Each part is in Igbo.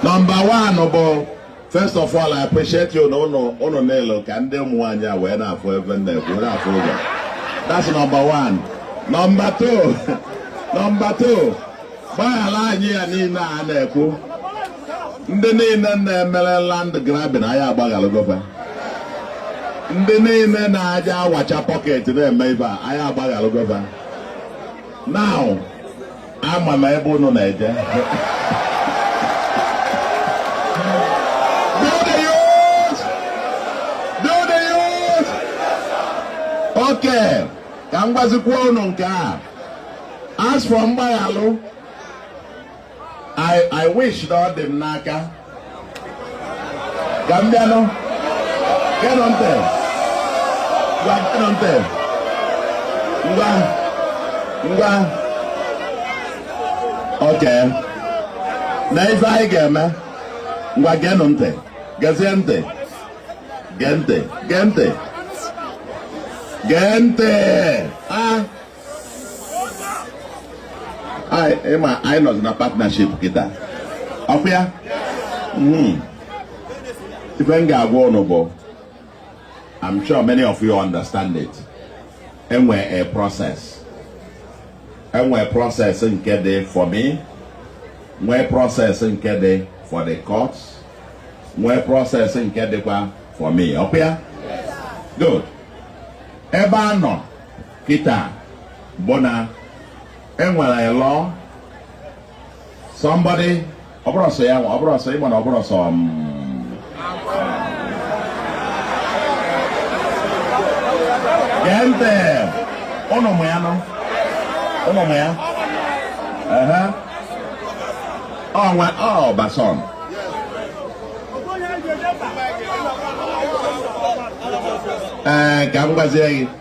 nọmba wan bụ first of all I appreciate ụnụ ụnụ niile ka ndị ụmụ nwaanyị a wee na-afụ ife a na-ekwu na-afụ ụgwọ that's nọmba wan nọmba two nọmba two gbaghara anyị ya niile a na-ekwu ndị niile na-emere land grabbing anyị agbagharago va ndị niile na-aja awacha pocket na-eme ibe a anyị agbagharago va now ama m ebe unu na-eje okay ka m gwazikwa unu nke a as for mgbaghalụ I, I wish that ọ dị m n'aka ka m bịanụ geenụ ntị ngwa geenụ ntị ngwa ngwa okay nee ife anyị ga-eme ngwa geenụ ntị gezie ntị gee ntị gee ntị gee ntị a ị ma anyị nọzi na partnership kịta ọkwa ya hmm. ife m ga-agwa ụnụ bụ I'm sure many of you understand it e nwere process e nwee process nke dị for me nwee process nke dị for the courts nwee process nke dịkwa for me ọkwa ya good ebe a nọ kịta bụ na enwere lọ somebody ọbụrụ sọ ya nwa ọbụrụ sọ ịma na ọbụrụ sọ m gee ntị ụnụ mụ ya nọ ụnụ mụ ya ehe ọnwa ọbason ee ka m gwazie gị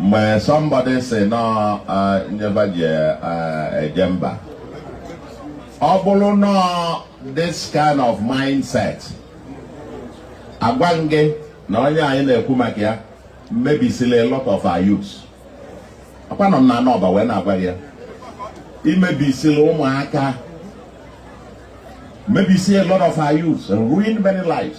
mgbe somebody sị na ife ba ji eje mba ọ bụrụ na this kind of mindset agwa m gị na onye anyị na-ekwu maka ya mebisila a lot of our youth akwanọ m na anọba wee na-agwa ya i mebisila ụmụaka mebisie a lot of our youth and ruin many lives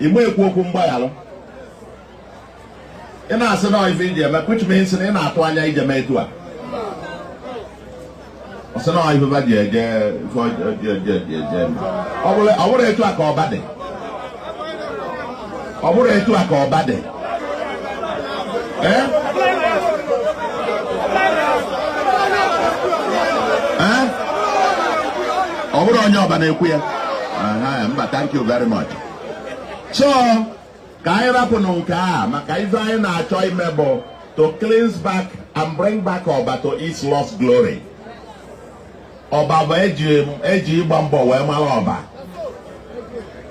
ị na-ekwu okwu mgbaghara ị na-asị na ife i ji eme which means na ị na-atụ anya ije mee etu a ọ sị na ife ba ji eje ife ọjọọ eje eje eme ọ bụrụ etu a ka ọba dị ọ bụrụ etu a ka ọba dị ọ bụrụ onye ọba na-ekwu ya mba thank you very much so ka anyị rapụnụ nke a maka ife anyị na-achọ ime bụ to cleanse back and bring back Oba to its lost glory. ọba bụ eji eji ịgba mbọ wee mara ọba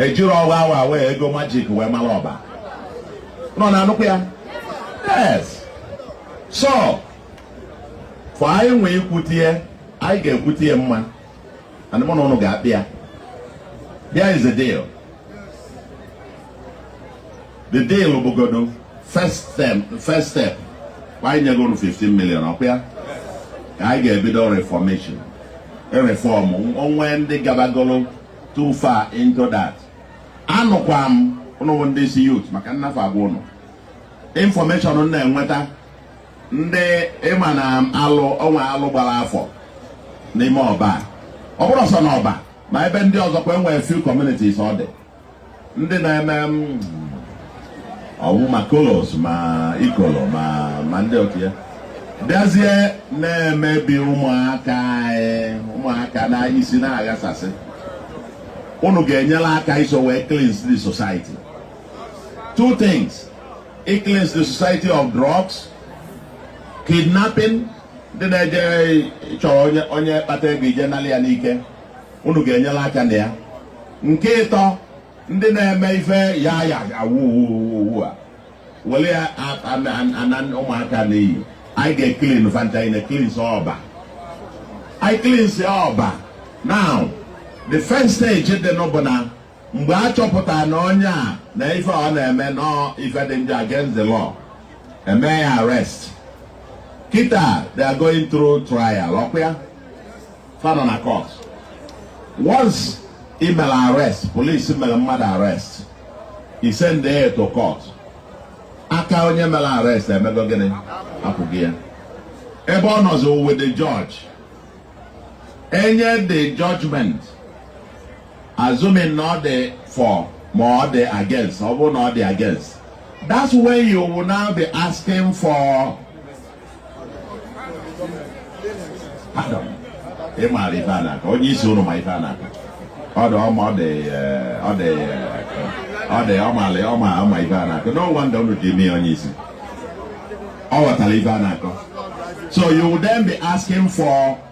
ejirọ ọwa awa wee ego magic wee mara ọba ụnụ na-anụkwa ya yes so for anyị nwee ikwutie anyị ga-ekwutie mma and mụ na ụnụ ga-akpị ya there is a deal the deal bụgodo first step first step anyị nyego unu 15 million ọkwa ya ka anyị ga-ebido reformation reform o nwe ndị gabagolo too far into that anụkwa m ụnụ ndị isi youth maka nnafe agwa ụnụ information m na-enweta ndị ị ma na alụ o nwe alụ gbara afọ n'ime ọba ọ bụrọ sọ na ọba ma ebe ndị ọzọ kwa e nwere few communities ọ dị ndị na-eme ọ wụ ma colos ma ikolo ma ma ndị ọkwa ya bịazie na-emebi ụmụaka anyị ụmụaka na isi na-aghasasị unu ga-enyere aka iso wee cleanse the society two things i cleanse the society of drugs kidnapping ndị na-eje chọrọ onye kpata ego eje nalị ya n'ike unu ga-enyere aka na ya nke ịtọ ndị na-eme ife ya ya awuwuwu a were ya ana ụmụaka n'iyi anyị ga-eclean fa ncha nine cleanse ọba anyị cleanse ọba now the first stage dị na ya bụ na mgbe a chọpụtara na onye a na ife ọ na-eme na ọ ife dị njọ against the law e mee ya arrest kịta they are going through trial ọkwa ya fa nọ na court once i mere arrest police mere mmadụ arrest i send ya to court aka onye mere arrest emego gịnị apụgo ya ebe ọ nọzi with the judge enye the judgment Assuming na ọ dị for ma ọ dị against, ọ bụrụ na ọ dị against. That's when you will now be asking for pardon. Ị maara ife a na-akọ, onye isi unu ma ife a na-akọ. Ọ dị ọma ọ dị eh, ọ dị eh, ọ dị ọ maara ọ ma ọ ma ife a na-akọ. No wonder unu ji mee onye isi. Ọ ghọtara ife a na-akọ. So you will then be asking for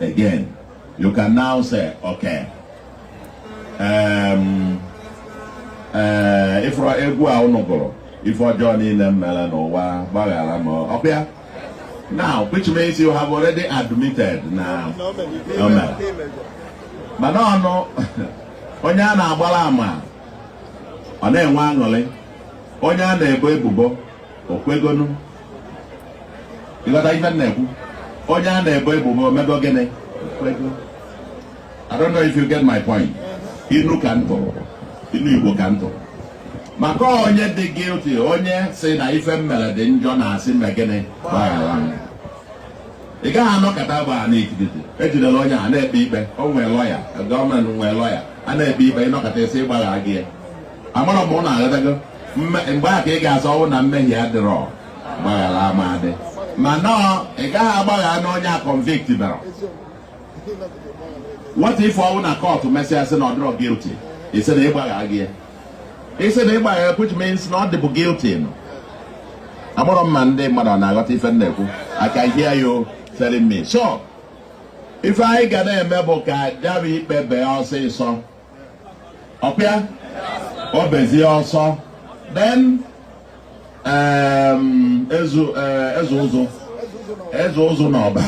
Again, you can now say, okay, um, uh, if egwu a unu gụrụ ife ọjọọ niile m mere n'ụwa gbaghara m okay now which means you have already admitted na o mere mana ọnụ onye a na-agbara ama ọ na-enwe aṅụrị onye a na-ebo ebubo o kwegonụ ị ghọta ife m na-ekwu onye a na-ebo ebubo o mego gịnị I don't know if you get my point inu ka m tụ inu Igbo ka m tụ maka onye dị guilty onye sị na ife m mere dị njọ na-asị mee gịnị gbaghara m ị gaghị anọkata bụ a na-ekidete ejidela onye a na-ekpe ikpe o nwee lọya gọọmenti nwee lọya a na-ekpe ikpe ị nọkata sị ị gbagharago ya amarọ m ma ụnụ aghọtago mgbe ahụ ka ị ga-asị ọ bụrụ na mmehie adịrọ mgbaghara ama adị mana ị gaghị agbagharanụ onye a convictberọ what if ọ bụrụ na kọtụ mesịa sị na ọ dịrọ guilty ị sị na ị gbagharago ya ị sị na ị gbaghara which means na ọ dịbụ guilty so amarọ m ma ndị mmadụ na-aghọta ife m na-ekwu I can hear you telling me so ife anyị ga na-eme bụ ka ya bụ ikpe bee ọsịsọ e kpee ya o bezie so then um, eze eh, eze ụzụ eze ụzụ na ọba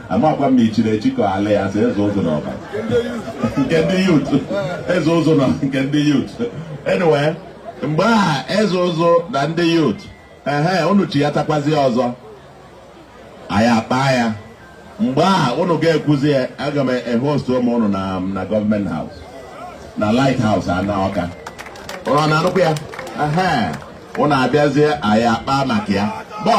amakwa m i chiri echi ka ala ya sị eze ụzụ na ọba nke ndị youth eze ụzụ na nke ndị youth anyway mgbe a eze ụzụ na ndị youth ehe unu chịghatakwazi ọzọ anyị akpaa ya mgbe a ụnụ ga-ekwuzi ya aga m ehost ụmụ ụnụ na na government house na light house a na Ọka ụnụ na-anụkwa ya ụnụ abịazie anyị akpaa maka ya bụ